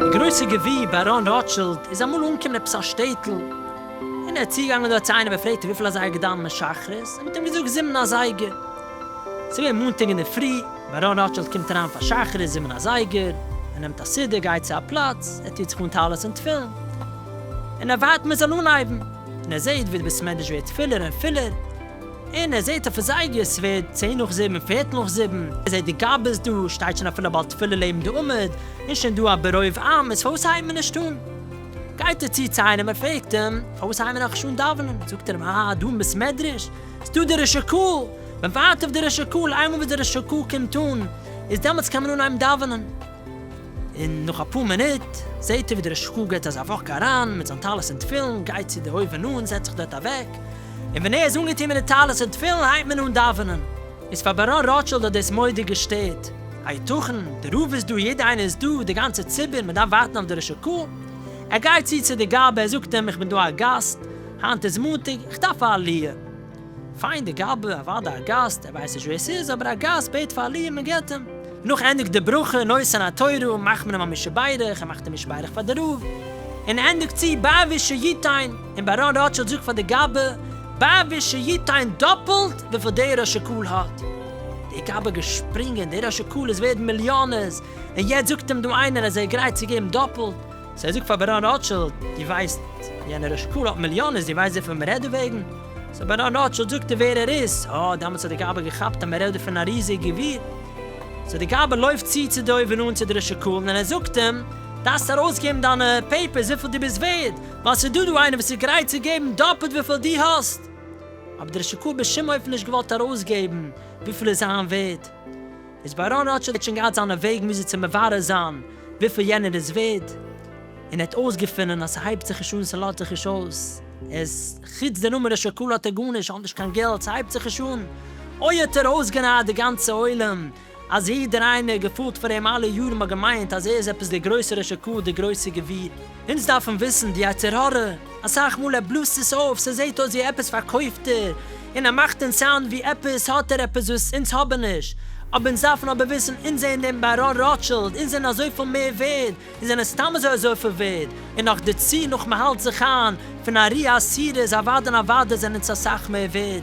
די גרויסע גביר באראן ראטשילד איז אמאל אנגעקומען עפעס א שטעטל, און ער איז צוגעגאנגען דארט צו איינעם און פרעגט אים וויפיל אזייגער געדאוונט מען שחרית, ער האט אים געזאגט זיבן אזייגער. ס'איז געווען מאנטאג אינדערפרי, באראן ראטשילד קומט אריין פאר שחרית זיבן אזייגער, ער נעמט א סידור, גייט צו א פלאץ, ער טוט זיך אן טלית און תפילין, און ער ווארט מען זאל אנהייבן, און ער זעהט ווי די בית המדרש ווערט פילער און פילער, און ער זעהט אויפן זייגער ס'ווערט צען נאך זיבן, פערטל נאך זיבן, ער זעהט די גאבעס דא, שטייט שוין אפילו א בעל תפילה לעבן די עמוד, און שוין דא א ברוב עם, איז פארוואס הייבט מען נישט אן? גייט ער צו צו איינעם און פרעגט אים, פארוואס הייבן מיר נאך נישט אן דאווענען? זאגט ער אים, אה, דא אין בית מדרש איז דא די ריש הקהל, מען ווארט אויף די ריש הקהל, איינמאל וואס די ריש הקהל קומט אן, איז דעמאלטס קען מען אנהייבן דאווענען. און נאך אפאר מינוט זעהט ער ווי דער ראש הקהל געט אזא וואק אריין מיט זיין טלית און תפילין, גייט צו די אויבן אן, זעצט זיך דארט אוועק, און ווען ער איז אנגעטון מיט די טלית און תפילין הייבט מען אן דאווענען. איז פאר באראן ראטשילד האט דאס מוראדיג געשטערט, היתכן? די רב איז דא, יעדער איינער איז דא, די גאנצע ציבור, מען דארף ווארטן אויף די ראש הקהל. ער גייט צו צו די גאב ד, ער זאגט אים, איך בין דא א גאסט, היינט איז מאנטאג, איך דארף א עליה. פיין די גאבע, אוודאי א גאסט, ער ווייסט נישט ווער ס'איז, אבער א גאסט בעט פאר א ליע, מען געבט אים. נאך ענדיגט די ברכה, נושא נא תורה, מאכט מען אים א מי שברך, ער מאכט אים מי שברך פאר די רב, און ענדיגט צו ביי ווי שיתיין, און באראן ראטשילד זאגט פאר די גאבע, ביי ווי שיתיין דאפלט וויפיל דער אשכול האט. די גאבע געשפרינגען, דער אשכול איז ווערד מיליאנערס, און יעצט זאגט אים דא איינער אז ער גרייט צו געבן דאפלט. סא זאג פאר בערנארד ראטשילד, דו ווייסט יענער אשכול האט מיליאנעס, דו ווייסט וויפיל מ'רעדט דערוועגן? סא בערנארד ראטשילד זאגט דיר ווער ער איז, אה, דעמאלטס האט די געבער געכאפט אז מ'רעדט דא פון א ריזיג גביר. סא די געבער לויפט צו צו דוב און אן צו דער אשכול, און ער זאגט אים, דארפסט ארויסגעבן דיינע פעיפערס וויפיל דו ביסט ווערד, ווייל ס'איז דא דא איינער וואס איז גרייט צו געבן דאפלט וויפיל דו האסט. אבער דער אשכול האט בשום אופן נישט געוואלט ארויסגעבן וויפיל איז זיין ווערד. איז באראן ראטשילד שוין געהאט זיינע וועגן וויאזוי צו מברר זיין וויפיל יענער איז ווערד, און ער האט אויסגעפונען אז ס'הייבט זיך נישט אן, ס'לאזט זיך נישט אויס, ער איז, חוץ די נומערע שקל האט ער גארנישט, ער האט נישט קיין געלט, ס'הייבט זיך נישט אן. אוי האט ער אויסגענייעט די גאנצע עולם, אז יעדער איינער געפאלט פאר אים אלע יארן האט געמיינט אז ער איז עפעס דער גרויסער ר' שקל, דער גרויסער גביר. אונז דארפן וויסן די יצר הרע, אסאך מאל ער בלאזט עס אויף, ס'זעהט אויס ווי עפעס פארקויפט ער, און ער מאכט אונז סאונד ווי עפעס האט ער עפעס וואס אונז האבן נישט, אבער אונז דארפן אבער וויסן אונז זענען דעם באראן ראטשילד, אונז זענען אזויפיל מער ווערד, אונז זענען סתם אזוי אזויפיל ווערד, און נאך דערצו נאך מ'האלט זיך איין פון ארי' עשירות אוודאי און אוודאי זענען אונז אסאך מער ווערד,